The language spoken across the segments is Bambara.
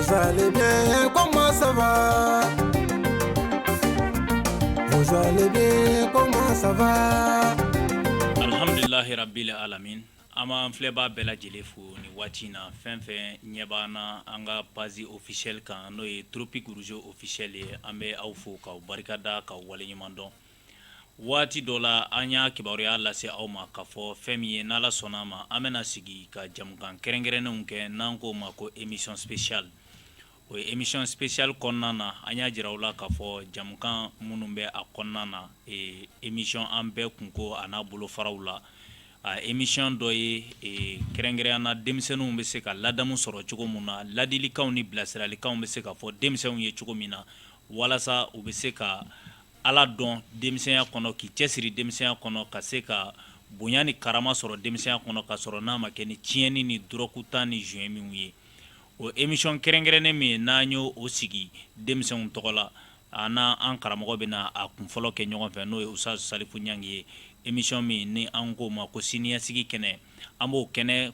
Vous allez bien, comment ça va Vous allez bien, comment ça va Alhamdulilahi rabili alamin an b'an filɛbaa bɛɛ lajɛlen fo nin waati in na fɛn fɛn ɲɛ b'an na an ka page officielle kan n'o ye tropic rouge officiel ye an bɛ aw fo k'aw barikada k'aw waleɲumandɔn waati dɔ la an y'a kibaruya lase aw ma ka fɔ fɛn min ye n'ala sɔnna a ma an bɛna sigi ka jamukan kɛrɛnkɛrɛnnenw kɛ n'an k'o ma ko émission spéciale o ye émission spéciale kɔnɔna na an y'a jira aw la k'a fɔ jamukan minnu bɛ a kɔnɔna na émission an bɛɛ kunko a n'a bolofaraw la émission dɔ ye kɛrɛnkɛrɛn na denmisɛnninw bɛ se ka ladamu sɔrɔ cogo min na ladilikanw ni bilasiralikanw bɛ se ka fɔ denmisɛnw ye cogo min na walasa u bɛ se ka Ala dɔn denmisɛnya kɔnɔ k'i cɛ siri denmisɛnya kɔnɔ ka se ka bonya ni karama sɔrɔ denmisɛnya kɔnɔ ka sɔrɔ n'a ma kɛ ni tiɲɛni ni dɔrɔku ta ni joint min ye o émission kɛrɛnkɛrɛnnen min n'an y'o sigi denmisɛnw tɔgɔ la an n' an karamɔgɔ bɛna a kun fɔlɔ kɛ ɲɔgɔn fɛ n'o ye ustaz salifu ɲange ye émission min ni an k'o ma ko siniɲɛsigi kɛnɛ an b'o kɛnɛ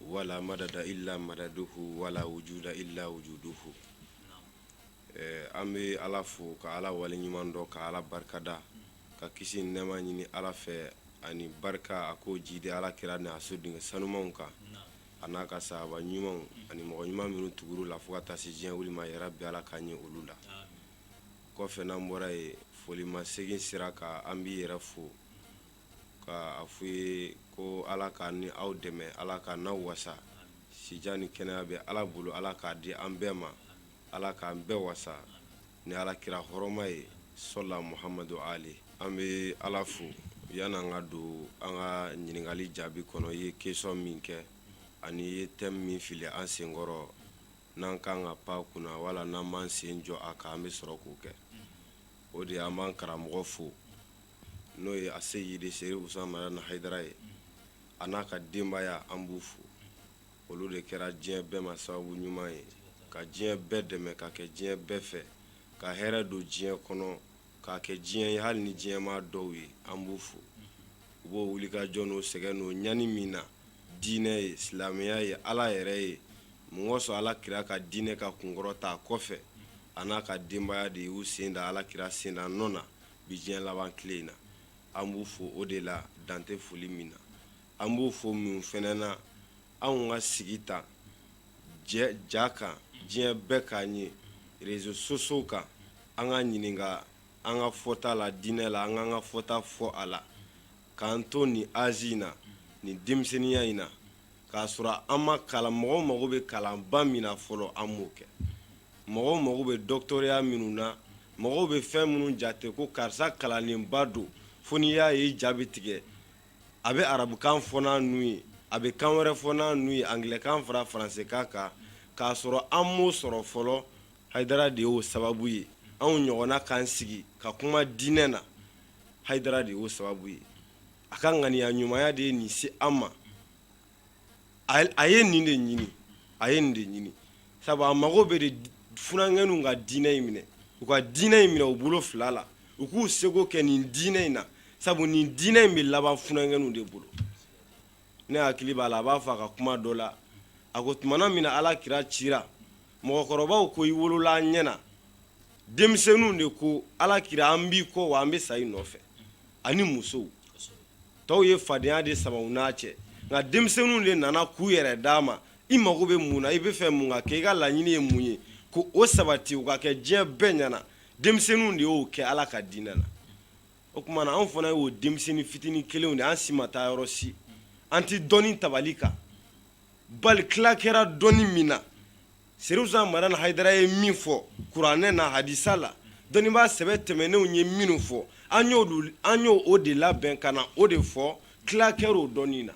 wala madada ila madaduhu wala wujuda ila wujuduhu an bɛ ala fo ka ala wale ɲuman dɔn ka ala barikada ka kisi ni nɛɛma ɲini ala fɛ ani barika a k'o jidi ala kira ni a so denkɛ sanumanw kan a n'a ka sahaba ɲumanw ani mɔgɔ ɲuman minnu tugur'u la fo ka taa se diɲɛ wili ma ya rabi ala ka ɲɛ olu la kɔfɛ n'an bɔra ye foli masegin sira kan an b'i yɛrɛ fo ka a fɔ i ye ko ala k'an ni aw dɛmɛ ala k'an n'aw wasa si jan ni kɛnɛya bɛ ala bolo ala k'a di an bɛɛ ma ala k'an bɛɛ wasa ni ala kira hɔrɔma ye sola muhamadu ali an bɛ ala fo yani an ka don an ka ɲininkali jaabi kɔnɔ i ye question min kɛ ani i ye thème min fili an senkɔrɔ n'an ka kan ka pan a kunna wala n'an b'an sen jɔ a kan an bɛ sɔrɔ k'o kɛ o de an b'an karamɔgɔ fo n'o ye aseyidi seri usumani madani hayidara ye a n'a ka denbaya an b'u fo olu de kɛra diɲɛ bɛɛ ma sababu ɲuman ye ka diɲɛ bɛɛ dɛmɛ ka kɛ diɲɛ bɛɛ fɛ ka hɛrɛ don diɲɛ kɔnɔ k'a kɛ diɲɛ ye hali ni diɲɛma dɔw ye an b'u fo u b'o wulikajɔ n'o sɛgɛn n'o ɲani min na diinɛ ye silamɛya ye ala yɛrɛ ye mun kɔsɔn ala kira ka diinɛ ka kunkɔrɔta a kɔfɛ a n'a ka denbaya de y'u sen da ala kira sen da nɔ na bi diɲɛ laban tile in na an b'u fo o de la dan tɛ foli min na an b'u fo mun fana na anw ka sigi ta ja kan diɲɛ bɛɛ k'an ye réseaux sociaux kan an ka ɲininka an ka fɔta la diinɛ la an k'an ka fɔta fɔ a la k'an to nin azi in na nin denmisɛnninya in na k'a sɔrɔ an ma kalan mɔgɔw mago bɛ kalanba min na fɔlɔ an m'o kɛ mɔgɔw mago bɛ dɔgɔtɔrɔya minnu na mɔgɔw bɛ fɛn minnu jate ko karisa kalannenba don fo n'i y'a ye i ja bɛ tigɛ a bɛ arabukan fɔ n'a nu ye a bɛ kan wɛrɛ fɔ n'a nu ye angilɛkan fara faransikan kan k'a sɔrɔ an m'o sɔrɔ fɔlɔ hayidara de y'o sababu ye anw ɲɔgɔnna k'an sigi ka kuma diinɛ na hayidara de y'o sababu ye a ka ŋaniya ɲumanya de ye nin se an ma a ye nin de ɲini a ye nin de ɲini sabu a mago bɛ de funankɛninw ka diinɛ in minɛ u ka diinɛ in minɛ u bolo fila la u k'u seko kɛ nin diinɛ in na sabu nin diinɛ in bɛ laban funankɛninw de bolo ne hakili b'a la a b'a fɔ a ka kuma dɔ la a ko tumana min na ala kira ci mɔgɔkɔrɔbaw ko i wolola an ɲɛna denmisɛnninw de ko ala kira an b'i kɔ wa an bɛ sa i nɔfɛ ani musow tɔw ye fadenya de sama u n'a cɛ nka denmisɛnninw de nana k'u yɛrɛ d'a ma i mago bɛ mun na i bɛ fɛ mun ka kɛ i ka laɲini ye mun ye ko o sabati u ka kɛ diɲɛ bɛɛ ɲɛna denmisɛnninw de y'o kɛ ala ka diinɛ na o tuma na anw fana y'o denmisɛnnin fitinin kelenw de an si ma taa yɔrɔ si an tɛ dɔnni tabali kan bali tila kɛra dɔnni min na Serifu Usumani Madani Hayidara ye min fɔ kuranɛ na hadisa la dɔnnibaa sɛbɛ tɛmɛnenw ye minnu fɔ an y'olu an y'o o de labɛn ka na o de fɔ tila kɛra o dɔnni na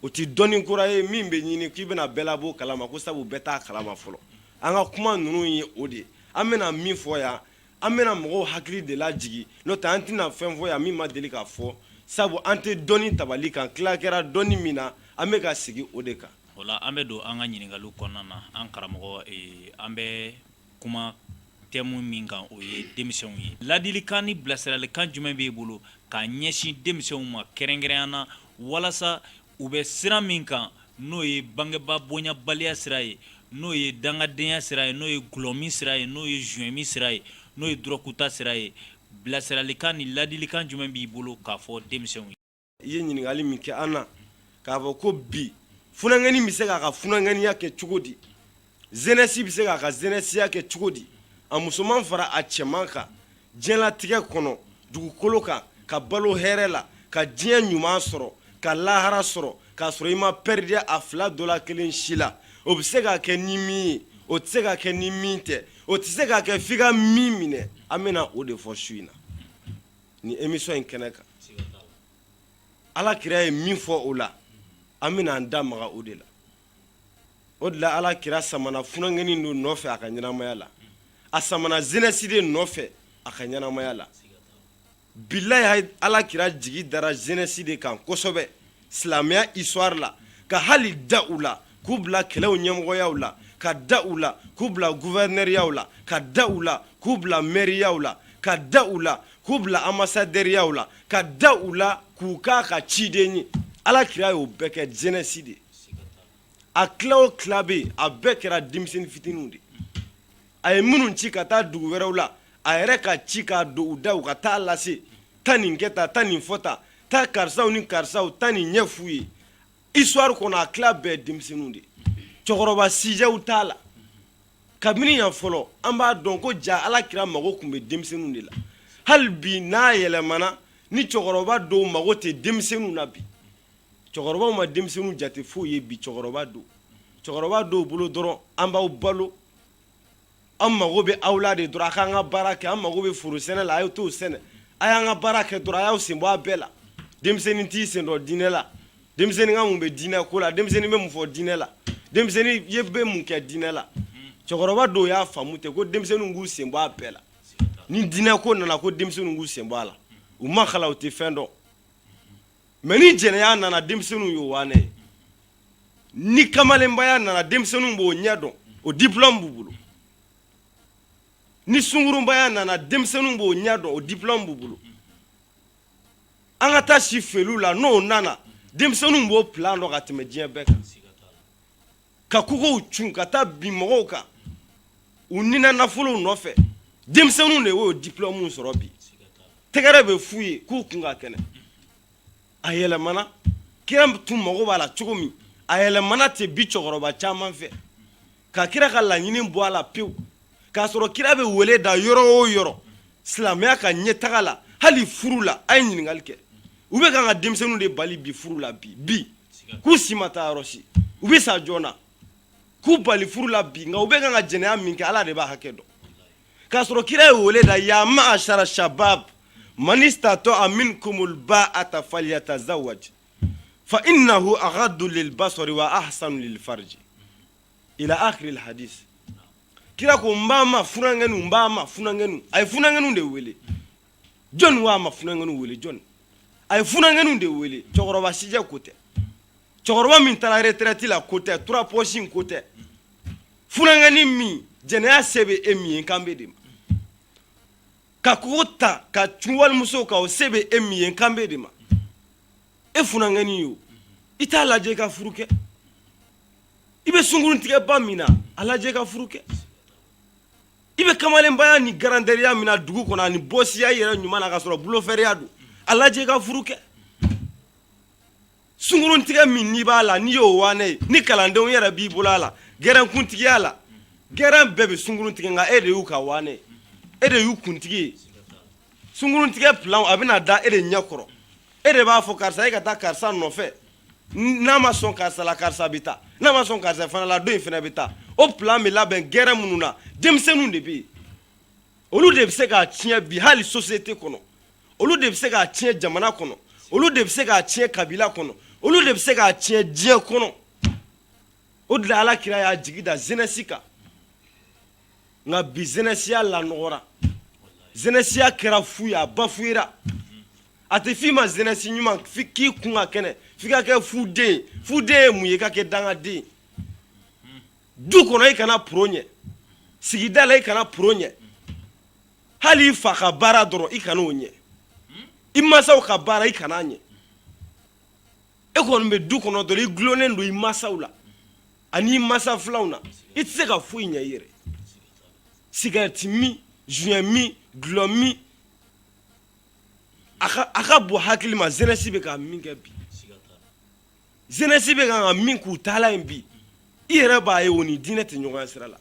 o tɛ dɔnni kura ye min bɛ ɲini k'i bɛna bɛɛ labɔ o kalama ko sabu bɛɛ t'a kalama fɔlɔ an ka kuma ninnu ye o de ye an bɛna min fɔ yan An bɛna mɔgɔw hakili de lajigin n'o tɛ an tɛna fɛn fɔ yan min ma deli k'a fɔ sabu an tɛ dɔnni tabali kan tila kɛra dɔnni min na an bɛ ka sigi o de kan o la an bɛ don an ka ɲininkali kɔnɔna na an karamɔgɔ an bɛ kuma tɛmu min kan o ye denmisɛnw ye ladilikan ni bilasiralikan jumɛn b'i bolo k'a ɲɛsin denmisɛnw ma kɛrɛnkɛrɛnya na walasa u bɛ sira min kan n'o ye bangebaa bonyabaliya sira ye n'o ye dangadenya sira ye n'o ye dɔlɔmin sira ye n'o ye zuwɛnmin sira ye n'o ye dɔrɔguta sira ye bilasiralikan ni ladilikan jumɛn b'i bolo k'a fɔ denmisɛnw ye i ye ɲininkali min kɛ an na k'a fɔ ko bi funankɛnin bɛ se k'a ka funankɛninya kɛ cogo di Zɛnɛsi bɛ se k'a ka zɛnɛsiya kɛ cogo di a musoman fara a cɛman kan diɲɛlatigɛ kɔnɔ dugukolo kan ka balo hɛrɛ la ka diɲɛ ɲuman sɔrɔ ka lahara sɔrɔ k'a sɔrɔ i ma pɛridiya a fila dɔ la kelen si la o bɛ se k'a kɛ ni min ye o tɛ se k'a kɛ ni min tɛ o tɛ se k'a kɛ f'i ka min minɛ an bɛna o de fɔ su in na ni emisiyɔn in kɛnɛ kan ala kira ye min fɔ o la an bɛna an da maga o de la o de la ala kira samana funankɛninw de nɔfɛ a ka ɲɛnamaya la a samana jeunesse de nɔfɛ a ka ɲɛnamaya la bilahi ala kira jigi dara jeunesse de kan kosɛbɛ silamɛya histoire la ka hali da u la k'u bila kɛlɛw ɲɛmɔgɔyaw la ka da u la k'u bila guvɛrinɛriyaw la ka da u la k'u bila mɛriyaw la ka da u la k'u bila anbasadɛriyaw la ka da u la k'u k'a ka ciden ye ala kira y'o bɛɛ kɛ jeunesse de a kila o kila bɛ yen a bɛɛ kɛra denmisɛnnin fitininw de a ye minnu ci ka taa dugu wɛrɛw la a yɛrɛ ka ci k'a don u da u ka taa lase taa nin kɛ tan taa nin fɔ tan taa karisaw ni karisaw taa nin ɲɛ f'u ye histoire kɔnɔ a kila bɛɛ denmisɛnninw de cɛkɔrɔba sijɛw t'a la kabini yan fɔlɔ an b'a dɔn ko ja ala kira mago tun bɛ denmisɛnninw de la hali bi n'a yɛlɛmana ni cɛkɔrɔba dɔw mago tɛ denmisɛnninw na bi cɛkɔrɔbaw ma denmisɛnninw jate foyi ye bi cɛkɔrɔba dɔw cɛkɔrɔba dɔw bolo dɔrɔn an b'aw balo an mago bɛ aw la de dɔrɔn a k'an ka baara kɛ an mago bɛ foro sɛnɛ la a y'o t'o sɛnɛ a y'an ka baara kɛ dɔrɔn a y'aw sen bɔ a bɛɛ la denmisɛnnin t'i sen don diinɛ la denmisɛnnin ka mun bɛ diinɛ ko la denmisɛnnin bɛ mun fɔ diinɛ la denmisɛnnin ye bɛ mun kɛ diinɛ la cɛkɔrɔba dɔw y'a faamu ten ko denmisɛnninw k'u sen bɔ a bɛɛ la ni diinɛ ko nana ko denmisɛnninw k'u sen bɔ a la u ma kalan u tɛ fɛn dɔn mais ni jɛnɛya nana denmisɛnninw y'o wanɛ ye ni kamalenbaya nana denmisɛnninw b'o ɲɛ dɔn o diplɔmu b'u bolo ni sungurunbaya nana denmisɛnninw b'o ɲɛ dɔn o diplɔmu b'u bolo an ka taa si feere la n'o nana denmisɛnninw b'o plan dɔn ka tɛmɛ diɲɛ bɛɛ kan ka kogow cun ka taa bin mɔgɔw kan u ni n'a nafolow nɔfɛ denmisɛnninw de y'o diplɔmuw sɔrɔ bi tɛgɛrɛ bɛ f'u ye k'u kun ka kɛnɛ a yɛlɛmana kira tun mago b'a la cogo min a yɛlɛmana ten bi cɛkɔrɔba caman fɛ ka kira ka laɲini bɔ a la pewu k'a sɔrɔ kira bɛ wele da yɔrɔ o yɔrɔ silamɛya ka ɲɛtaga la hali furu la a ye ɲininkali kɛ u bɛ kan ka denmisɛnninw de bali bi furu la bi bi k'u si ma taa yɔrɔ si u bɛ sa joona k'u bali furu la bi nka u bɛ kan ka jɛnɛya min kɛ ala de b'a hakɛ dɔn k'a sɔrɔ kira ye wele da ya ma'ashara shabab man istata'a minkumul ba'ata falyatazawwaj fa innahu aghaddu lil basari wa ahsanu lil farji ila akhiril hadis kira ko n b'a ma funankɛninw n b'a ma funankɛninw a ye funankɛninw de wele jɔnni ko a ma funankɛninw wele jɔnni a ye funankɛninw de wele cɛkɔrɔba sijɛ ko tɛ cɛkɔrɔba min taara retraite la ko tɛ trois poches in ko tɛ funankɛnin min jɛnɛya se bɛ e min ye n kan bɛ e de ma ka kogo ta ka cun walimuso kan o se bɛ e min ye kan bɛ e de ma e funankɛnin yo i t'a lajɛ i ka furu kɛ i bɛ sunkuruntigɛba min na a lajɛ i ka furu kɛ i bɛ kamalenbaya ni garanteya min na dugu kɔnɔ ani bɔsiya i yɛrɛ ɲuman na ka sɔrɔ bulofɛriya don a lajɛ ka furu kɛ sunkurutigɛ min n'i b'a la n'i y'o wanɛ ye ni kalandenw yɛrɛ b'i bolo a la gɛrɛnkuntigiya la gɛrɛn bɛɛ bɛ sunkurutigɛ nka e de y'u ka wanɛ ye e de y'u kuntigi ye sunkurutigɛ plan a bɛna da e de ɲɛ kɔrɔ e de b'a fɔ karisa e ka taa karisa nɔfɛ n'a ma sɔn karisa la karisa bɛ taa n'a ma sɔn karisa fana la dɔ in fana bɛ taa o plan bɛ labɛn gɛrɛn minnu na denmisɛnninw de bɛ yen olu de bɛ se k'a tiɲɛ bi hali société kɔnɔ olu de bɛ se k'a tiɲɛ jamana kɔnɔ olu de bɛ se k'a tiɲɛ kabila kɔnɔ olu de bɛ se k'a tiɲɛ diɲɛ kɔnɔ o de la ala kira y'a jigi da jeunesse kan nka bi jeunesseya lanɔgɔra jeunesseya kɛra fu ye a bafouéra a tɛ f'i ma jeunesse ɲuman k'i kun ka kɛnɛ f'i ka kɛ fuden fuden ye mun ye ka kɛ dangaden du kɔnɔ i kana pro ɲɛ sigida la i kana pro ɲɛ hali i fa ka baara dɔrɔn i kana o ɲɛ i masaw ka baara i kana ɲɛ e kɔni bɛ du kɔnɔ dɔrɔn i dulonnen don i masaw la ani i masa filanw na i tɛ se ka foyi ɲɛ i yɛrɛ sigarɛti min joint min dulɔ min a ka bon hakili ma jeunesse bɛ ka min kɛ bi jeunesse bɛ ka min k'u taala ye bi i yɛrɛ b'a ye o ni diinɛ tɛ ɲɔgɔn sira la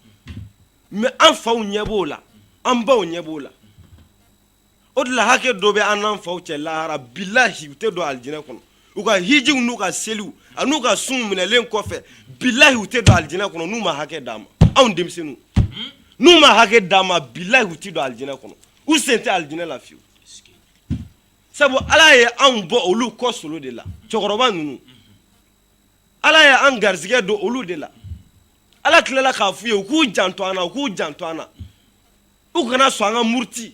mais an faw ɲɛ b'o la an baw ɲɛ b'o la o de la hakɛ dɔ bɛ an n'an faw cɛ lahara bilayi u tɛ don alijinɛ kɔnɔ u ka hijiw n'u ka seliw an'u ka sun minɛlen kɔfɛ bilayi u tɛ don alijinɛ kɔnɔ n'u ma hakɛ d'an ma anw denmisɛnninw n'u ma hakɛ d'an ma bilayi u tɛ don alijinɛ kɔnɔ u sen tɛ alijinɛ la fiyewu sabu ala ye anw bɔ olu kɔ solo de la cɛkɔrɔba ninnu ala ye an garisigɛ don olu de la ala tilala k'a f'u ye u k'u janto an na u k'u janto an na u kana sɔn an ka muruti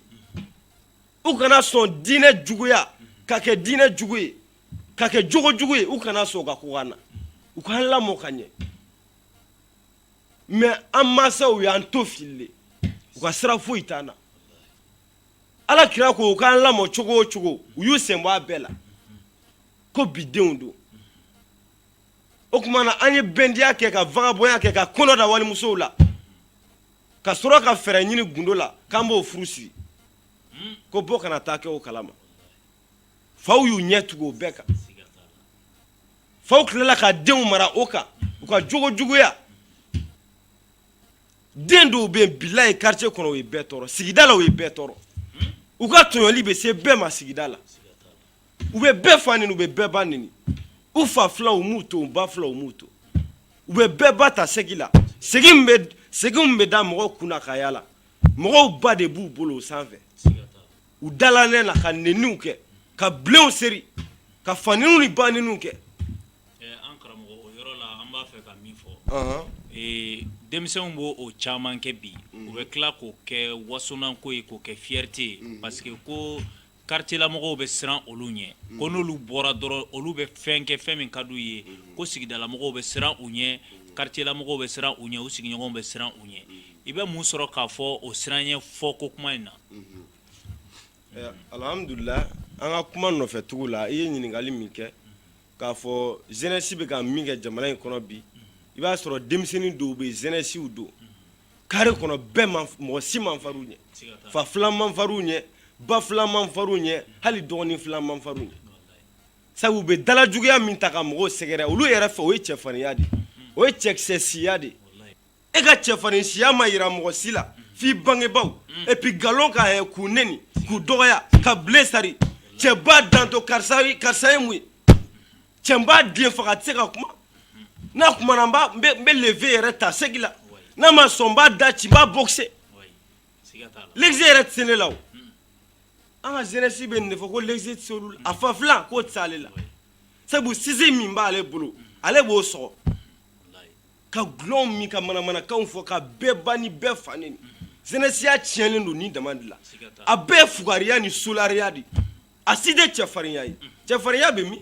u kana sɔn diinɛ juguya ka kɛ diinɛ jugu ye ka kɛ jogo jugu ye u kana sɔn ka kɔgɔ an na u k'an lamɔ ka ɲɛ mais an masaw y'an to filile u ka sira foyi t'an na ala kira ko u k'an lamɔ cogo o cogo u y'u sen bɔ a bɛɛ la ko bidenw don o tuma na an ye bandiya kɛ ka vagabɔnya kɛ ka kɔnɔ da walimusow la ka sɔrɔ ka fɛɛrɛ ɲini gundo la k'an b'o furu siri ko bɔ kana taa kɛ o kalama faw y'u ɲɛ tugu o bɛɛ kan faw tilala ka denw mara o kan u ka jogo juguya den dɔw bɛ yen bilahi quartier kɔnɔ u ye bɛɛ tɔɔrɔ sigida la u ye bɛɛ tɔɔrɔ u ka tɔɲɔli bɛ se bɛɛ ma sigida la u bɛ bɛɛ fa nini u bɛ bɛɛ ba nini u fa filanw u m'u to u ba filanw u m'u to u bɛ bɛɛ ba ta segi la segi min bɛ da mɔgɔw kunna ka yaala mɔgɔw ba de b'u bolo u sanfɛ u dalanɛn na ka neniw kɛ ka bilenw seri ka faniniw ni baniniw kɛ an karamɔgɔ o yɔrɔ la an b'a fɛ ka min fɔ denmisɛnw b'o o caman kɛ bi u bɛ tila k'o kɛ wasonanko ye k'o kɛ fierté ye parce que ko quartier la mɔgɔw bɛ siran olu ɲɛ ko n'olu bɔra dɔrɔn olu bɛ fɛn kɛ fɛn min ka d'u ye ko sigidalamɔgɔw bɛ siran u ɲɛ quartier la mɔgɔw bɛ siran u ɲɛ u sigiɲɔgɔnw bɛ siran u ɲɛ i bɛ mun sɔrɔ k'a fɔ o siran ɲɛ fɔ ko kuma in na alhamdulila an ka kuma nɔfɛ tugu la i ye ɲininkali min kɛ k'a fɔ jeunesse bɛ ka min kɛ jamana in kɔnɔ bi i b'a sɔrɔ denmisɛnnin dɔw bɛ jeunessew don carré kɔnɔ bɛɛ mɔgɔ si man far'u ɲɛ fa filan man far'u ɲɛ ba filan man far'u ɲɛ hali dɔgɔnin filan man far'u ɲɛ sabu u bɛ dalajuguya min ta ka mɔgɔw sɛgɛrɛ olu yɛrɛ fɛ o ye cɛfarinya de o ye cɛkisɛsiya de e ka cɛfarinsiya ma jira mɔgɔ si la f'i bangebaw et puis nkalon ka k'u neni k'u dɔgɔya ka bilen sari cɛba danto karisa ye mun ye cɛ n b'a den faga a tɛ se ka kuma n'a kumana n bɛ le vieux yɛrɛ ta segi la n'a ma sɔn n b'a da ci n b'a boxer leze yɛrɛ tɛ se ne la o an ka jeunesse bɛ nin de fɔ ko leze tɛ se olu la a fa filan k'o tɛ se ale la sabu sise min b'ale bolo ale b'o sɔgɔ ka gulɔw min ka manamanakanw fɔ ka bɛɛ ba ni bɛɛ fa neni jeunesse ya tiɲɛlen don nin dama de la a bɛɛ fugariya ni solariya de a si tɛ cɛfarinya ye cɛfarinya bɛ min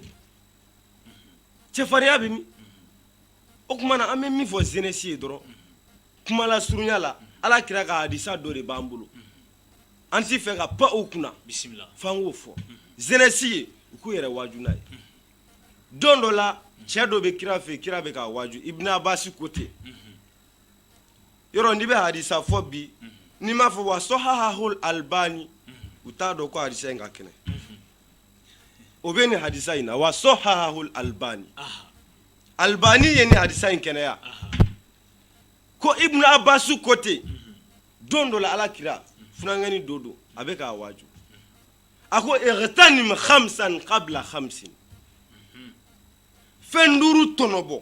cɛfarinya bɛ min o tuma na an bɛ min fɔ jeunesse ye dɔrɔn kuma lasurunya la ala kira ka hadisa dɔ de b'an bolo an t'a fɛ ka pan o kunna bisimila f'an k'o fɔ jeunesse ye u k'u yɛrɛ waaju n'a ye don dɔ la cɛ dɔ bɛ kira fɛ yen kira bɛ k'a waaju ibn abasi ko ten yɔrɔ n'i bɛ hadisa fɔ bi n'i m'a fɔ wa sɔhahahul albani u t'a dɔn ko hadisa in ka kɛnɛ o bɛ nin hadisa in na wa sɔhahahul albani albani ye nin hadisa in kɛnɛya ko ibnu abbasu ko ten don dɔ la ala kira funankɛni dɔ don a bɛ k'a waaju a ko igtanim khamsan qabla khamsin fɛn duuru tɔnɔbɔ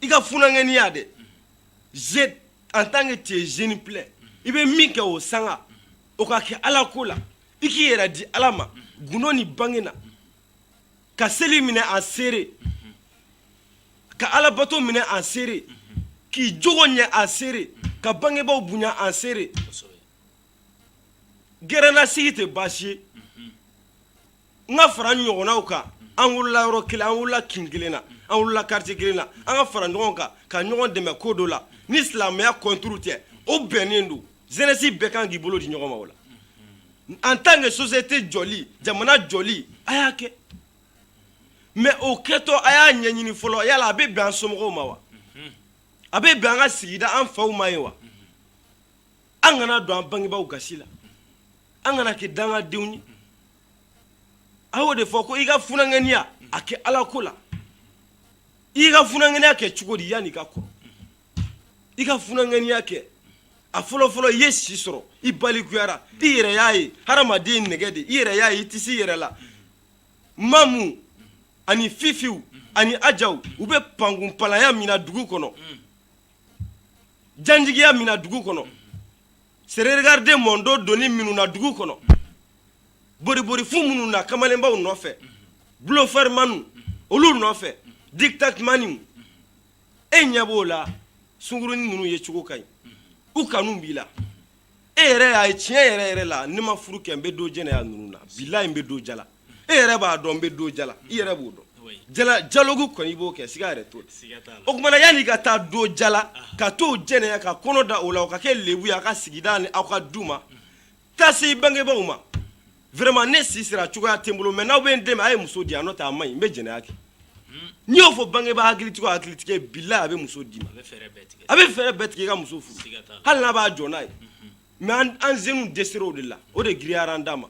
i ka funankɛniya dɛ en tant que tu es jeune plein i bɛ min kɛ o sanga o ka kɛ ala ko la i k'i yɛrɛ di ala ma gundo ni bange na ka seli minɛ a seere ka alabato minɛ a seere k'i jogo ɲɛ a seere ka bangebaaw bonya a seere gɛrɛnasigi tɛ baasi ye n ka fara ɲɔgɔnnaw kan an wulila yɔrɔ kelen an wulila kin kelen na an wulila quartier kelen na an ka fara ɲɔgɔn kan ka ɲɔgɔn dɛmɛ ko dɔ la ni silamɛya contre tɛ o bɛnnen don jeunesse bɛɛ kan k'i bolo di ɲɔgɔn ma o la en tant que société jɔli jamana jɔli a y'a kɛ mais o kɛtɔ a y'a ɲɛɲini fɔlɔ yala a bɛ bɛn an somɔgɔw ma wa a bɛ bɛn an ka sigida an faw ma ye wa an kana don an bangebaaw gasi la an kana kɛ dangadenw ye a y'o de fɔ ko i ka funankɛniya a kɛ ala ko la i ka funankɛniya kɛ cogo di yanni i ka kɔrɔ i ka funankɛniya kɛ a fɔlɔfɔlɔ i ye si sɔrɔ i balikuyara i yɛrɛ y'a ye hadamaden nɛgɛ de i yɛrɛ y'a ye i tɛ se i yɛrɛ la mamu ani fifiw ani ajaw u bɛ pankunpalaya min na dugu kɔnɔ janjigiya min na dugu kɔnɔ serré regarde mon dos donni minnu na dugu kɔnɔ boribori fu minnu na kamalenbaw nɔfɛ bluffeurmanw olu nɔfɛ dictatemaniw e ɲɛ b'o la sungurunin ninnu ye cogo ka ɲi u kanu b'i la e yɛrɛ y'a ye tiɲɛ yɛrɛ yɛrɛ la ne ma furu kɛ n bɛ don jɛnɛya ninnu na bilahi n bɛ don jala e yɛrɛ b'a dɔn n bɛ don jala i yɛrɛ b'o dɔn jaloku kɔni i b'o kɛ siga yɛrɛ t'o la o tuma na yanni ka taa don jala ka t'o jɛnɛya ka kɔnɔ da o la o ka kɛ lebu ye a ka sigida ni aw ka du ma taa se i bangebaw ma vraiment ne si sera cogoya tɛ n bolo mais n'aw bɛ n dɛmɛ a ye muso di yan n'o tɛ a man ɲi n bɛ jɛnɛya kɛ n'i y'o fɔ bangebaa hakilitigi hakilitigi bilahi a bɛ muso d'i ma a bɛ fɛɛrɛ bɛɛ tigɛ i ka muso furu hali n'a b'a jɔ n'a ye mais an jeunes dɛsɛra o de la o de girinyara an da ma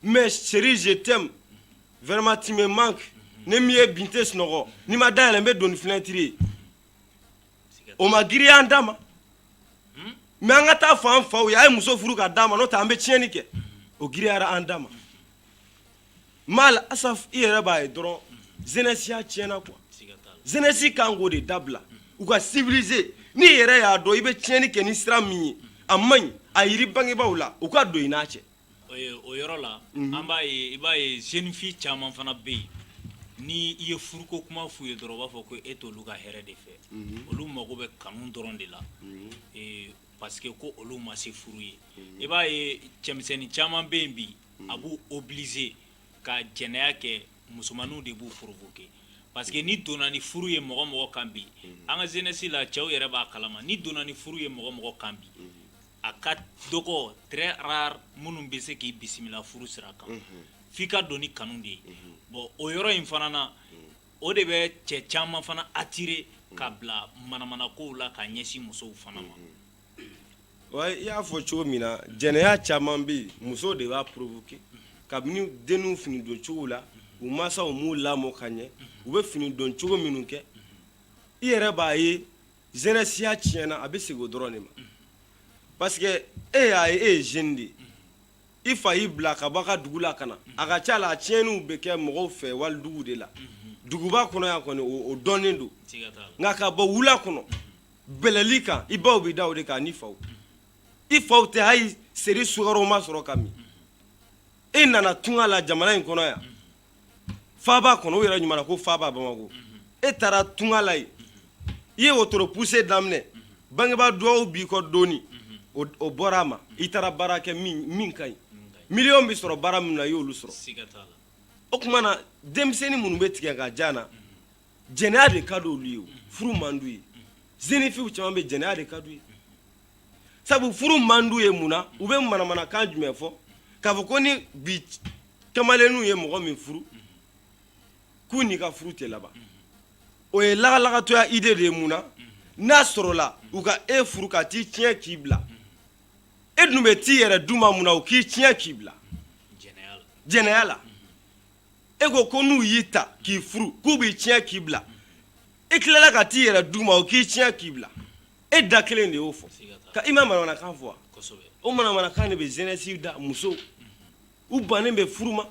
mais chérie je t'aime vraiment tu me manques ne m'i ye bi n tɛ sunɔgɔ n'i ma da yɛlɛ n bɛ don ni fenêtre ye o ma girinya an da ma mais an ka taa fɔ an faw ye a ye muso furu k'a d'an ma n'o tɛ an bɛ tiɲɛni kɛ o girinyara an da ma mal asaf i yɛrɛ b'a ye dɔrɔn jeunesseya tiɲɛna quoi jeunesse kan k'o de dabila u ka civiliser n'i yɛrɛ y'a dɔn i bɛ tiɲɛni kɛ ni sira min ye a man ɲi a yiri bangebaw la u ka don i n'a cɛ O yɔrɔ la an b'a ye i b'a ye jeunes filles caman fana bɛ yen n' i ye furuko kuma f'u ye dɔrɔn u b'a fɔ ko e t'olu ka hɛrɛ de fɛ olu mago bɛ kanu dɔrɔn de la parce que ko olu ma se furu ye i b'a ye cɛmisɛnnin caman bɛ yen bi a b'u obliger ka jɛnɛya kɛ musomanninw de b'u provoquer parce que ni donna ni furu ye mɔgɔ mɔgɔ kan bi an ka jeunesse la cɛw yɛrɛ b'a kalama ni donna ni furu ye mɔgɔ mɔgɔ kan bi a ka dɔgɔ très rare minnu bɛ se k'i bisimila furu sira kan f' i ka don ni kanu de ye bon o yɔrɔ in fana na o de bɛ cɛ caman fana attirer ka bila manamanakow la ka ɲɛsin musow fana ma wa i y'a fɔ cogo min na jɛnɛya caman bɛ yen musow de b'a provoquer kabini denninw fini don cogo la u mansaw m'u lamɔ ka ɲɛ u bɛ fini don cogo minnu kɛ i yɛrɛ b'a ye zɛnɛsiya tiɲɛna a bɛ segin o dɔrɔn de ma parce que e y'a ye e ye jeune de ye i fa y'i bila ka bɔ a ka dugu la ka na a ka ca la a tiɲɛniw bɛ kɛ mɔgɔw fɛ walidugu de la duguba kɔnɔ yan kɔni o dɔnnen don nka ka bɔ wula kɔnɔ bɛlɛli kan i baw bɛ da o de kan ani faw i faw tɛ hali seri sukaroma sɔrɔ ka min e nana tunga la jamana in kɔnɔ yan faaba kɔnɔ o yɛrɛ ɲuman na ko faaba Bamako e taara tunga la yen i ye wotoro pousser daminɛ bangebaa duwawu b'i kɔ dɔɔni o bɔra a ma i taara baara kɛ min ka ɲi million bɛ sɔrɔ baara minnu na i y'olu sɔrɔ o tuma na denmisɛnnin minnu bɛ tigɛ ka jan na jɛnɛya de ka di olu ye furu man d'u ye jeunes filles caman bɛ yen jɛnɛya de ka d'u ye sabu furu man d'u ye mun na u bɛ manamanakan jumɛn fɔ k'a fɔ ko ni bi kamalenninw ye mɔgɔ min furu k'u n'i ka furu tɛ laban o ye lagalagatɔya idée de ye mun na n'a sɔrɔla u ka e furu ka t'i tiɲɛ k'i bila e dun bɛ t'i yɛrɛ d'u ma mun na u k'i tiɲɛ k'i bila jɛnɛya la e ko ko n'u y'i ta k'i furu k'u b'i tiɲɛ k'i bila i tilala ka t'i yɛrɛ d'u ma u k'i tiɲɛ k'i bila e da kelen de y'o fɔ ka i ma manamanakan fɔ wa o manamanakan de bɛ jeunesse da musow u bannen bɛ furu ma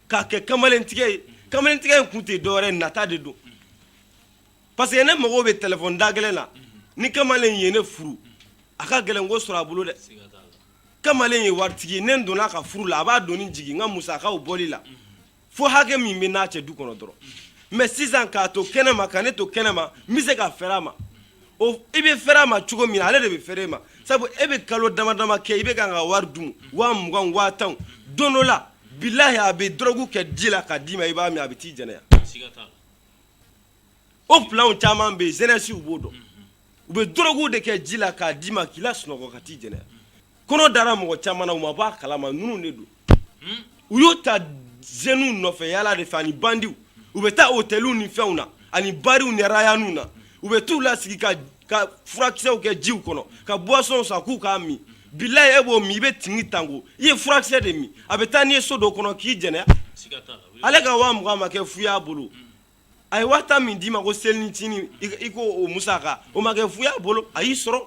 k'a kɛ kamalentigɛ ye kamalentigɛ in kun tɛ dɔwɛrɛ nata de don parce que ne mago bɛ téléphone da gɛlɛn na ni kamalen ye ne furu a ka gɛlɛn k'o sɔrɔ a bolo dɛ kamalen ye waritigi ye ne donna ka furu la a b'a doni jigin n ka musakaw bɔli la fo hakɛ min bɛ n'a cɛ du kɔnɔ dɔrɔn mais sisan k'a to kɛnɛ ma ka ne to kɛnɛ ma n bɛ se ka fɛɛrɛ a ma o i bɛ fɛɛrɛ a ma cogo min na ale de bɛ fɛɛrɛ e ma sabu e bɛ kalo dama dama kɛ i bɛ k'a ka wari dun waa mugan waa tan don dɔ la bilahi a bɛ dɔrɔgu kɛ ji la k'a d'i ma i b'a min a bɛ t'i jɛnɛya o planw caman bɛ yen zɛnɛsiw b'o dɔn u bɛ dɔrɔgu de kɛ ji la k'a d'i ma k'i lasunɔgɔ ka t'i jɛnɛya kɔnɔ dara mɔgɔ caman na u ma bɔ a kalama ninnu de don u y'o ta zeniw nɔfɛ yala de fɛ ani bandiw u bɛ taa otɛliw ni fɛnw na ani bariw ni arayanw na u bɛ t'u lasigi ka ka furakisɛw kɛ jiw kɔnɔ ka buwasɔnw san k'u k'a min bilayi e b'o min i bɛ tingitango i ye furakisɛ de min a bɛ taa n'i ye so dɔ kɔnɔ k'i jɛnɛya ale ka waa mugan ma kɛ fu y'a bolo a ye waa tan min d'i ma ko selicinin i ko o musaka o ma kɛ fu y'a bolo a y'i sɔrɔ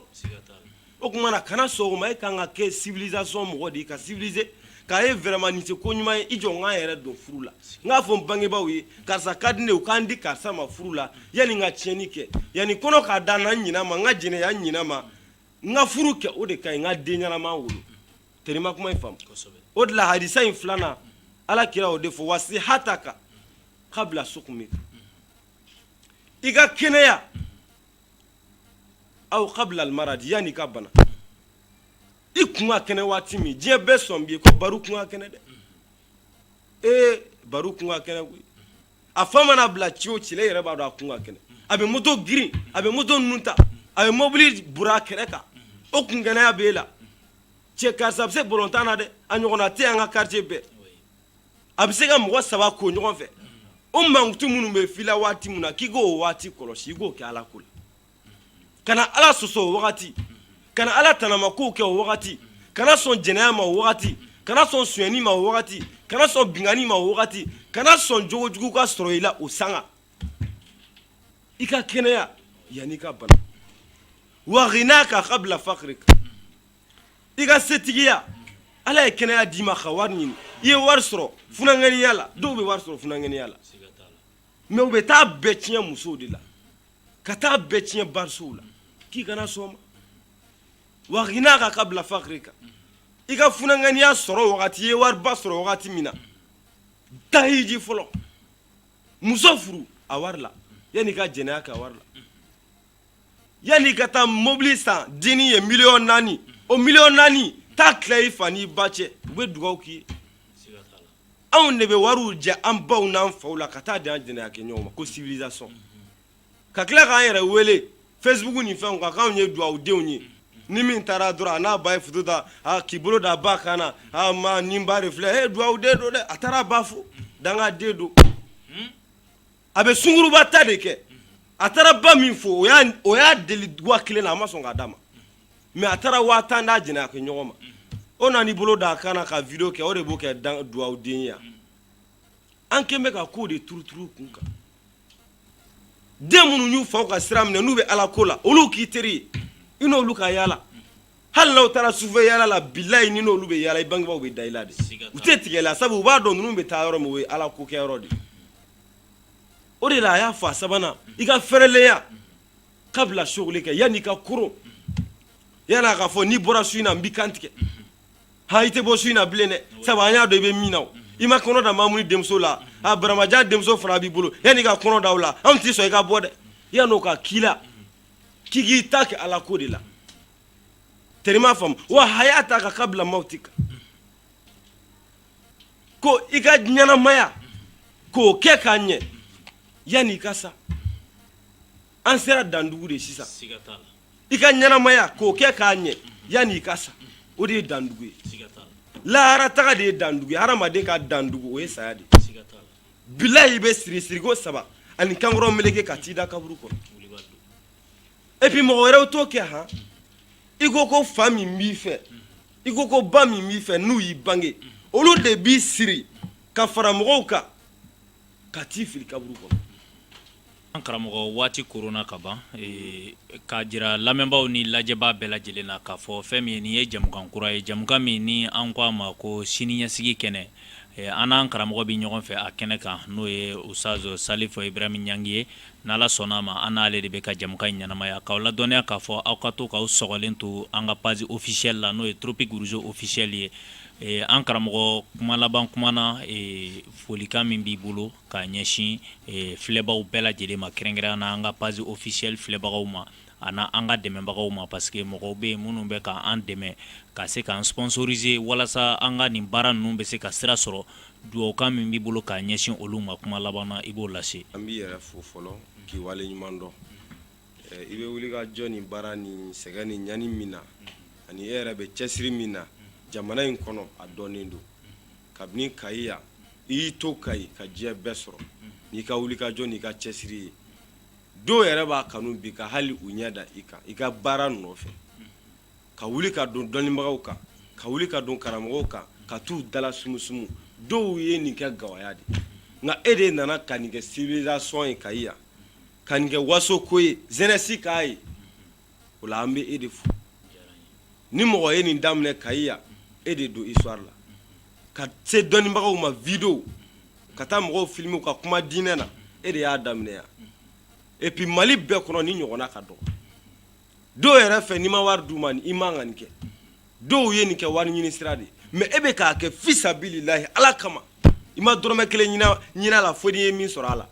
o tuma na kana sɔn o ma e ka kan ka kɛ civilisation mɔgɔ de ye ka civiliser k'a ye vraiment nin tɛ ko ɲuman ye i jɔ n ka n yɛrɛ don furu la n k'a fɔ n bangebaaw ye karisa ka di ne ye u ka n di karisa ma furu la yanni n ka tiɲɛni kɛ yanni kɔnɔ ka da n na n ɲinɛ ma n ka jɛnɛya n ɲinɛ ma n ka furu kɛ o de ka ɲi n ka den ɲɛnama wolo terima kuma in faamu o de la hadisa in filanan ala kira o de fɔ wa sihataka kabila sukumika i ka kɛnɛya aw kabila almaradi yanni i ka bana i kun ka kɛnɛ waati min diɲɛ bɛɛ sɔn b'i ye ko baro kun ka kɛnɛ dɛ ee baro kun ka kɛnɛ koyi a fa mana bila ci o ci la i yɛrɛ b'a dɔn a kun ka kɛnɛ a bɛ moto girin a bɛ moto ninnu ta a bɛ mobili bura a kɛrɛ kan o kun kɛnɛya b'e la cɛ karisa a bɛ se bɔlɔntan na dɛ a ɲɔgɔnna tɛ an ka quartier bɛɛ a bɛ se ka mɔgɔ saba ko ɲɔgɔn fɛ o mankutu minnu bɛ f'i la waati min na k'i k'o waati kɔlɔsi i k'o kɛ ala ko la kana ala sɔsɔ o wagati kana ala tanama kow kɛ o wagati kana sɔn jɛnɛya ma o wagati kana sɔn sonyani ma o wagati kana sɔn binkanni ma o wagati kana sɔn jogo jugu ka sɔrɔ i la o sanga i ka kɛnɛya yanni i ka bana wa ginaka kabila fakirika i ka setigiya ala ye kɛnɛya d'i ma ka wari ɲini i ye wari sɔrɔ funankɛniya la dɔw bɛ wari sɔrɔ funankɛniya la mɛ u bɛ taa bɛɛ tiɲɛ musow de la ka taa bɛɛ tiɲɛ barisow la k'i kana sɔn ma wa ginaka kabila fakirika i ka funankɛniya sɔrɔ wagati i ye wariba sɔrɔ wagati min na taa hiji fɔlɔ muso furu a wari la yanni i ka jɛnɛya kɛ a wari la yanni i ka taa mobili san denni ye miliyɔn naani o miliyɔn naani taa tila i fa n'i ba cɛ u bɛ dugawu k'i ye anw de bɛ wariw jɛ an baw n'an faw la ka taa di an jɛnɛya kɛ ɲɔgɔn ma ko civilisation ka tila k'an yɛrɛ wele facebook ni fɛnw kan k'anw ye dugawu denw ye ni min taara dɔrɔn a n'a ba ye foto ta k'i bolo da a ba kan na ma nin ba de filɛ e dugawu den don dɛ a taara a ba fo danga den don a bɛ sunguruba ta de kɛ a taara ba min fo o y'a deli waa kelen na a ma sɔn k'a d'a ma mɛ a taara waa tan d'a jɛnɛya kɛ ɲɔgɔn ma o nana i bolo da a kan na ka video kɛ o de b'o kɛ dugawu den ye an kɛlen bɛ ka kow de turuturu kun kan den minnu y'u faw ka sira minɛ n'u bɛ ala ko la olu k'i teri ye i n'olu ka yaala hali n'aw taara sufɛ yaala la bilayi n'i n'olu bɛ yaala i bangebaw bɛ da i la de u tɛ tigɛ i la sabu u b'a dɔn ninnu bɛ taa yɔrɔ min o ye ala ko kɛ yɔrɔ de o de la a y'a fɔ a sabanan i ka fɛrɛlenya kabila sugulika yanni i ka koron yanni a k'a fɔ n'i bɔra su in na n b'i kan tigɛ ha i tɛ bɔ su in na bilen dɛ sabu an y'a dɔn i bɛ min na o i ma kɔnɔ da mamuni denmuso la a baramajan denmuso fana b'i bolo yanni i ka kɔnɔ da o la anw tɛ sɔn i ka bɔ dɛ yanni o ka k'i la k'i k'i ta kɛ ala ko de la teri m'a faamu wa hayataka kabila mawutika ko i ka ɲɛnamaya k'o kɛ k'a ɲɛ yanni i ka sa an sera dandugu de sisan i ka ɲɛnamaya k'o kɛ k'a ɲɛ yanni i ka sa o de ye dandugu ye lahara taga de ye dandugu ye hadamaden ka dandugu o ye saya de ye bilayi i bɛ siri siriko saba ani kankɔrɔ meleke ka t'i da kaburu kɔnɔ et puis mɔgɔ wɛrɛw t'o kɛ han i ko ko fa min b'i fɛ i ko ko ba min b'i fɛ n'u y'i bange olu de b'i siri ka fara mɔgɔw kan ka t'i fili kaburu kɔnɔ An karamɔgɔ waati korona ka ban k'a jira lamɛnbaaw ni lajɛbaa bɛɛ lajɛlen na k'a fɔ fɛn min ye nin ye jamukan kura ye jamukan min ni an ko a ma ko sini ɲɛsigi kɛnɛ an n'an karamɔgɔ bɛ ɲɔgɔn fɛ a kɛnɛ kan n'o ye ustazu salifu ibrahim ɲangi ye n'ala sɔnna a ma an n'ale de bɛ ka jamukan in ɲɛnamaya k'aw ladɔnniya k'a fɔ aw ka to k'aw sɔgɔlen to an ka page officielle la n'o ye tropique rouge officiel ye an karamɔgɔ kuma laban kuma na folikan min b'i bolo ka ɲɛsin filɛbaw bɛɛ lajɛlen ma kɛrɛnkɛrɛnya na an ka page officielle filɛbagaw ma ani an ka dɛmɛbagaw ma parce que mɔgɔw bɛ minnu bɛ ka an dɛmɛ ka se k'an sponsoriser walasa an ka nin baara ninnu bɛ se ka sira sɔrɔ dugawukan min b'i bolo ka ɲɛsin olu ma kuma laban na i b'o lase an b'i yɛrɛ fo fɔlɔ k'i wale ɲuman dɔn i bɛ wuli ka jɔ ni baara ni sɛgɛn ni ɲani min na ani e yɛrɛ bɛ cɛsiri min na jamana in kɔnɔ a dɔnnen don kabini kayi yan i y'i to kayi ka diɲɛ bɛɛ sɔrɔ n'i ka wuli ka jɔ n'i ka cɛsiri ye dɔw yɛrɛ b'a kanu bi ka hali u ɲɛ da i kan i ka baara nɔfɛ ka wuli ka don dɔnnibagaw kan ka wuli ka don karamɔgɔw kan ka t'u dala sumusumu dɔw ye nin kɛ gawaya de nka e de nana ka nin kɛ civilisation ye kayi yan ka nin kɛ waso ko ye jeunesse k'a ye o la an bɛ e de fo ni mɔgɔ ye nin daminɛ kayi yan e de don histoire la ka se dɔnnibagaw ma vidéo ka taa mɔgɔw filmer ka kuma diinɛ na e de y'a daminɛ yan et puis mali bɛɛ kɔnɔ nin ɲɔgɔnna ka dɔgɔ dɔw yɛrɛ fɛ n'i ma wari d'u ma i man ka nin kɛ dɔw ye nin kɛ wari ɲini sira de mais e bɛ k'a kɛ fisabililahi ala kama i ma dɔrɔmɛ kelen ɲini a la fo n'i ye min sɔrɔ a la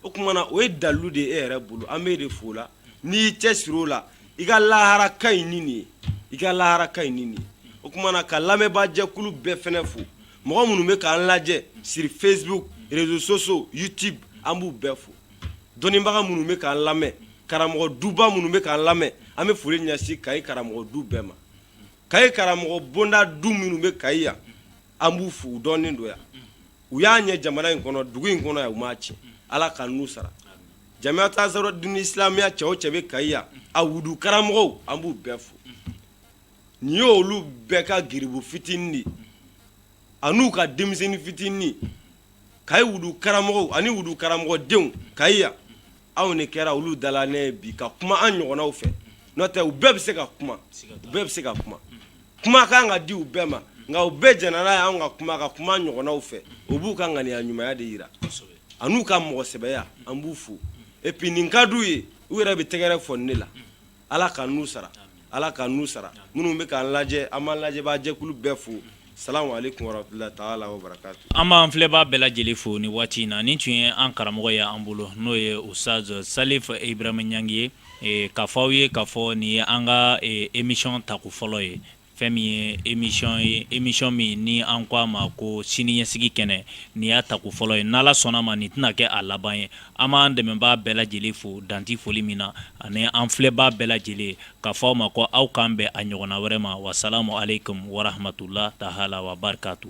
o tuma na o ye dalilu de e yɛrɛ bolo an b'e de fo la n'i y'i cɛsiri o la i ka lahara ka ɲi ni nin ye i ka lahara ka ɲi ni nin ye o tuma na ka lamɛnbaa jɛkulu bɛɛ fɛnɛ fo mɔgɔ minnu bɛ k'an lajɛ sur facebook réseaux sociaux youtube an b'u bɛɛ fo dɔnnibaga minnu bɛ k'an lamɛn karamɔgɔ duba minnu bɛ k'an lamɛn an bɛ foli ɲɛsin kayi karamɔgɔ du bɛɛ ma kayi karamɔgɔ bonda du minnu bɛ kayi yan an b'u fo u dɔnnen don yan u y'a ɲɛ jamana in kɔnɔ dugu in kɔnɔ yan u m'a cɛn ala ka n'u sara jamaatu ansarudini islamiya cɛ o cɛ bɛ kayi yan a wudu karamɔgɔw an b'u bɛɛ fo nin ye olu bɛɛ ka garibu fitinin de ani u ka denmisɛnnin fitinin kayi wudu karamɔgɔw ani wudu karamɔgɔdenw kayi yan anw de kɛra olu dala ne ye bi ka kuma an ɲɔgɔnnaw fɛ n'o tɛ u bɛɛ bɛ se ka kuma u bɛɛ bɛ se ka kuma kuma ka kan ka di u bɛɛ ma nka u bɛɛ jɛnna n'a ye anw ka kuma ka kuma an ɲɔgɔnnaw fɛ u b'u ka ŋaniya ɲumanya de yira a n'u ka mɔgɔ sɛbɛya an b'u fo et puis nin ka d'u ye u yɛrɛ bɛ tɛgɛrɛ fɔ ne la Ala ka n'u sara Ala ka n'u sara minnu bɛ k'an lajɛ an b'an lajɛbaa jɛkulu bɛɛ fo salamu aleyikumu warahmatulahi taala wabarakatu an b'an filɛbaa bɛɛ lajɛlen fo nin waati in na nin tun ye an karamɔgɔ ye an bolo n'o ye Usaz Salif Ibrahim Ɲangi ye k'a fɔ aw ye k'a fɔ nin ye an ka emisiyɔn tako fɔlɔ ye Fɛn min ye emisiyɔn ye emisiyɔn min ni an ko a ma ko siniɲɛsigi kɛnɛ nin y'a tako fɔlɔ ye n'ala sɔnna ma nin tɛna kɛ a laban ye an b'an dɛmɛbaa bɛɛ lajɛlen fo dan tɛ foli min na ani an filɛbaa bɛɛ lajɛlen k'a fɔ aw ma ko aw k'an bɛn a ɲɔgɔnna wɛrɛ ma wasalamu aleyikumu warahmatulahi taala wabarikatu